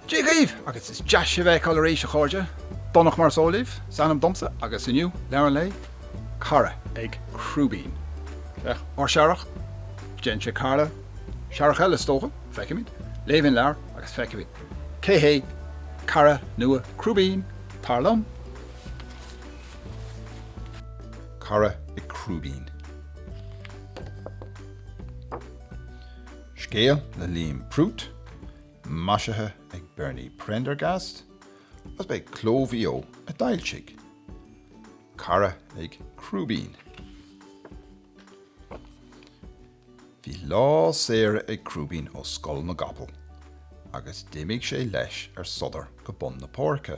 Dia dhaoibh agus is deas sibh a fheiceáil arís a chairde. Donncha mar is eol libh, is ainm domsa agus inniu, Leabhar an Lae, Cara ag Crúibín. Féach, ár searrach, déanann sé cara, searrach eile is dócha, feicfimid. Léifimid an leabhar agus feicfimid. Cé hé cara nua Crúibín, tar liom? Cara ag Crúibín. Scéal le Liam Prút, maisithe ag Bernie Prendergast, agus ba é Cló Mhaigh Eo a d'fhoilsigh. Cara ag Crúibín. Bhí lá saoire ag Crúibín ó Scoil na gCapall agus d'imigh sé leis ar sodar go bun na páirce.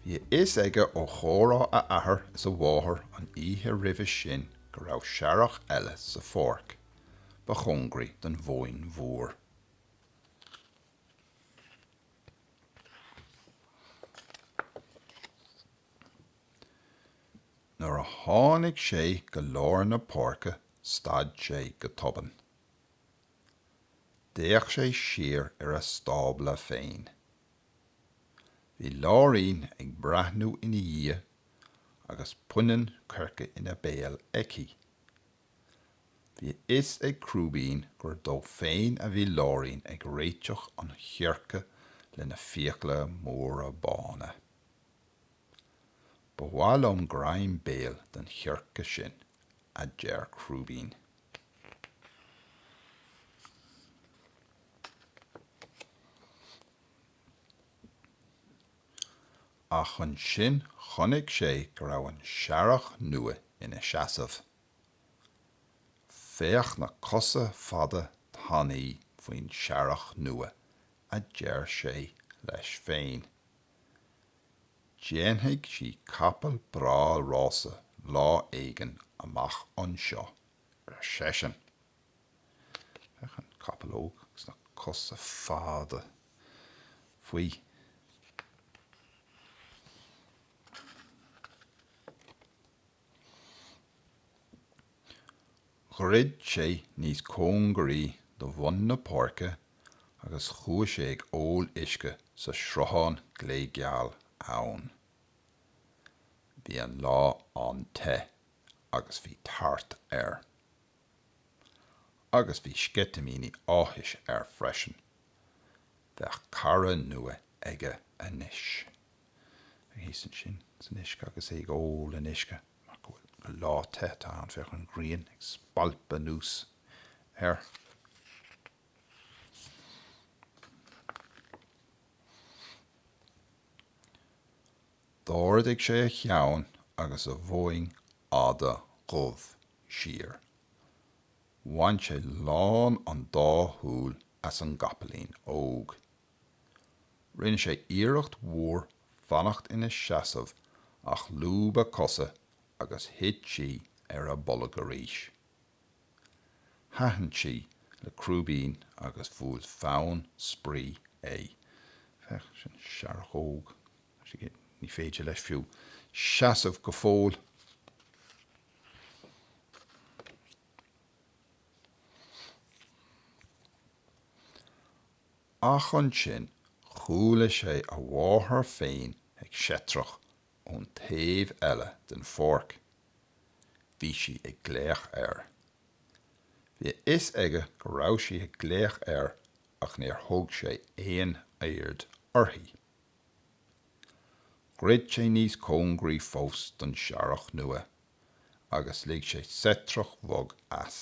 Bhí a fhios aige ó chomhrá a athar is a mháthar an oíche roimhe sin go raibh searrach eile sa pháirc ba chóngaraí don Mhóin Mhór. Nuair a tháinig sé go lár na páirce stad sé go tobann. D'fhéach sé siar ar a stábla féin. Bhí Láirín ag breathnú ina dhiaidh agus punann coirce ina béal aici. Bhí a fhios ag Crúibín gur dó féin a bhí Láirín ag réiteach an choirce lena fiacla móra bána. Ba mhaith liom greim béil den choirce sin, a deir Crúibín. Ach ansin chonaic sé go raibh an searrach nua ina seasamh. Féach na cosa fada tanaí faoin searrach nua, a deir sé leis féin. Déanfaidh sí capall breá rása lá éigin amach anseo, ar seisean. Féach, an capall óg agus na cosa fada faoi. Dhruid sé níos cóngaraí do bhun na páirce agus chuaigh sé ag ól uisce sa sruthán gléigeal ann. Bhí an lá an-te agus bhí tart air. Agus bhí sceitimíní áthais air freisin, bheadh cara nua aige anois. Ar thíos ansin san uisce agus é ag ól an uisce mar go bhfuil gur lá te atá ann, féach an ghrian ag spalpadh anuas air. D'ardaigh sé a cheann agus a mhoing fhada dhubh siar. Bhain sé lán an dá shúil as an gcapaillín óg. Rinne sé iarracht mhór fanacht ina seasamh ach lúb a cosa agus thit sí ar a bolg arís. Thaitin sí le Crúibín agus bhuail fonn spraoi é. Féach, sin searrach óg. Ní féidir leis fiú seasamh go fóill! ach ansin chuala sé a mháthair féin ag seitreach ón taobh eile den pháirc. Bhí sí ag glaoch air. Bhí a fhios aige go raibh sí ag glaoch air ach níor thug sé aon aird uirthi. Dhruid sé níos cóngaraí fós don searrach nua agus lig sé seitreach bhog as.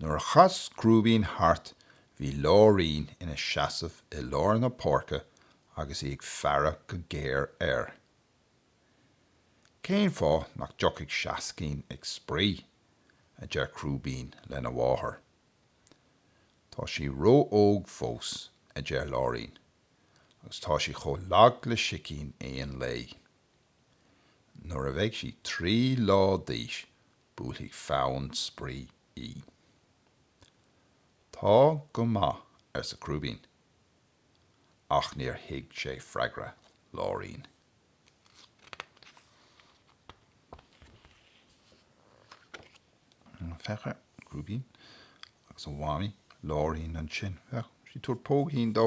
Nuair a chas Crúibín thart bhí Láirín ina seasamh i lár na páirce agus í ag faire go géar air. Cén fáth nach dtiocfaidh Seascín ag spraoi? a deir Crúibín lena mháthair. Tá sí ró-óg fós, a deir Láirín, agus tá sí chomh lag le sicín aon lae. Nuair a bheidh sí trí lá d'aois Buailfidh fonn spraoi í. Tá go maith, arsa Crúibín. Ach níor thuig sé freagra Láirín. Féach ar Chrúibín agus a mhamaí, Láirín ansin. Tá sí ag tabhairt póigín dó.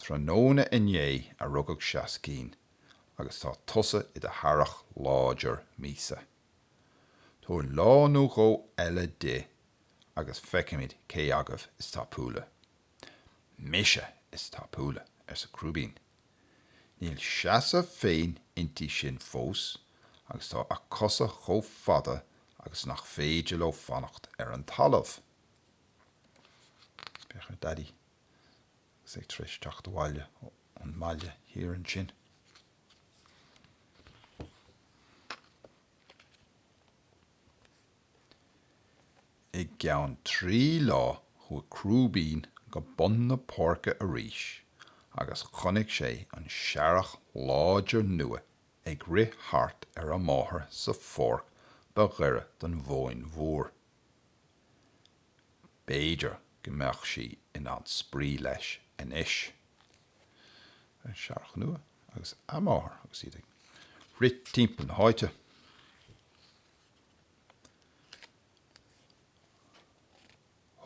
Tráthnóna inné a rugadh Seascín agus tá tusa i do shearrach láidir míosa. Tabhair lá nó dhó eile di agus feicfimid cé agaibh is tapúla. Mise is tapúla, arsa Crúibín. Níl seasamh féin inti sin fós agus tá a cosa chomh fada agus nach féidir leo fanacht ar an talamh. Féach ar Daidí. agus é tar éis teacht abhaile ón mbaile thiar ansin. I gceann trí lá chuaigh Crúibín go bun na páirce arís agus chonaic sé an searrach láidir nua ag rith thart ar a máthair sa pháirc ba ghaire don Mhóin Mhór. B'fhéidir go mbeadh sí in ann spraoi leis anois. Searrach nua agus a máthair agus iad ag rith timpeall na háite.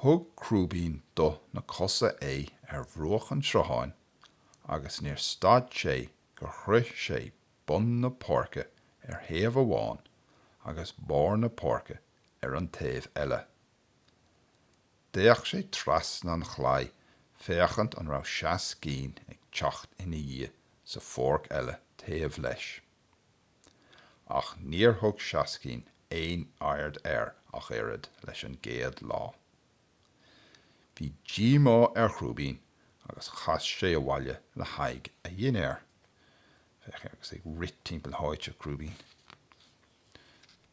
Thug Crúibín do na cosa é ar bhruach an tsrutháin agus níor stad sé gur shroich sé bun na páirce ar thaobh amháin agus barr na páirce ar an taobh eile. D'fhéach sé trasna an chlaí féachaint an raibh Seascín ag teacht ina dhiaidh sa pháirc eile taobh leis. Ach níor thug Seascín aon aird air ach oiread leis an gcéad lá. Bhí díomá ar Chrúibín agus chas sé abhaile le haghaidh a dhinnéir. Féach air agus é ag rith timpeall na háite, Crúibín.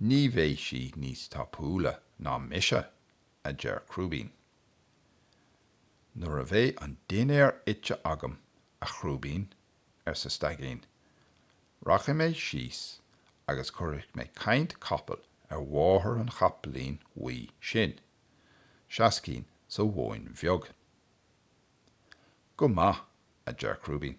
Ní bheidh sí níos tapúla ná mise, a deir Crúibín. Nuair a bheidh an dinnéar ite agam, a Chrúibín, arsa Staigín, rachaidh mé síos agus cuirfidh mé caint capaill ar mháthair an chapaillín bhuí sin, Seascín sa Mhóin Bheag. Go maith, a deir Crúibín.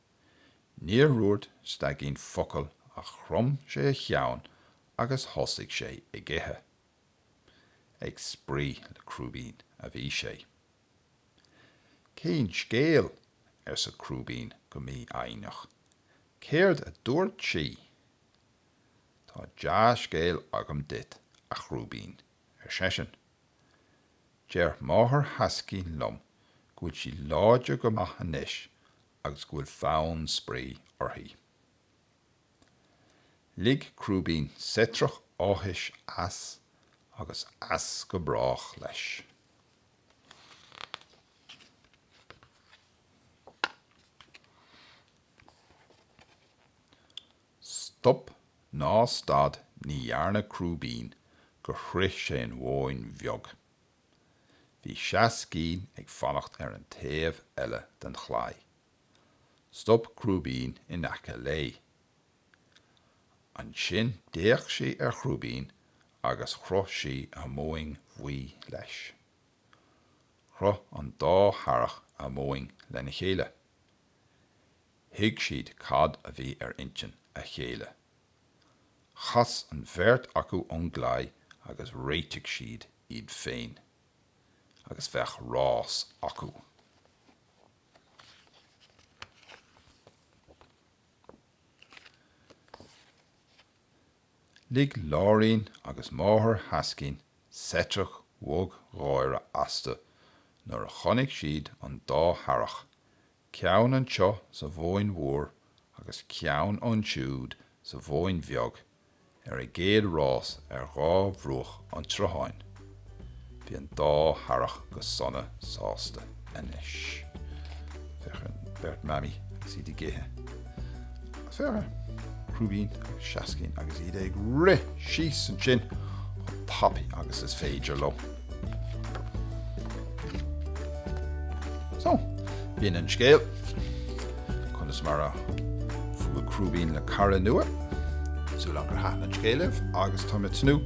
Níor dhúirt Staigín focal ach chrom sé a cheann agus thosaigh sé ag ithe. Ag spraoi le Crúibín a bhí sé. Cén scéal? arsa Crúibín go mífhoighneach. Céard a dúirt sí? Tá dea-scéal agam duit, a Chrúibín, ar seisean. Deir máthair Sheascín liom go bhfuil sí láidir go maith anois agus go bhfuil fonn spraoi uirthi. Lig Crúibín seitreach áthais as agus as go brách leis. Stop ná stad ní dhearna Crúibín gur shroich sé an mhóin bheag. Bhí Seascín ag fanacht ar an taobh eile den chlaí. Stop Crúibín in aice léi. Ansin d'fhéach sí ar Chrúibín agus chroith sí a moing bhuí leis. Chroith an dá shearrach a moing lena chéile. Thuig siad cad a bhí ar intinn a chéile. Chas an bheirt acu ón gclaí agus réitigh siad iad féin agus bheadh rás acu. Lig Láirín agus máthair Sheascín seitreach bhog gháire astu nuair a chonaic siad an dá shearrach Ceann anseo sa Mhóin Mhór agus ceann ansiúd sa Mhóin Bheag ar a gcéad rás ar dhá bhruach an tsrutháin. Bhí an dá shearrach go sona sásta anois. Féach ar an bheirt Mamaí agus iad ag ithe. Féach ar Chrúibín agus Seascín agus iad ag rith síos ansin chomh tapaidh agus is féidir leo. So, b'in an scéal. Conas mar a bhuail Crúibín le cara nua. Súil agam gur thaitin an scéal libh agus tá mé ag tnúth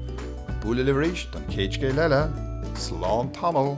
bualadh libh arís don chéad scéal eile. Slán tamall!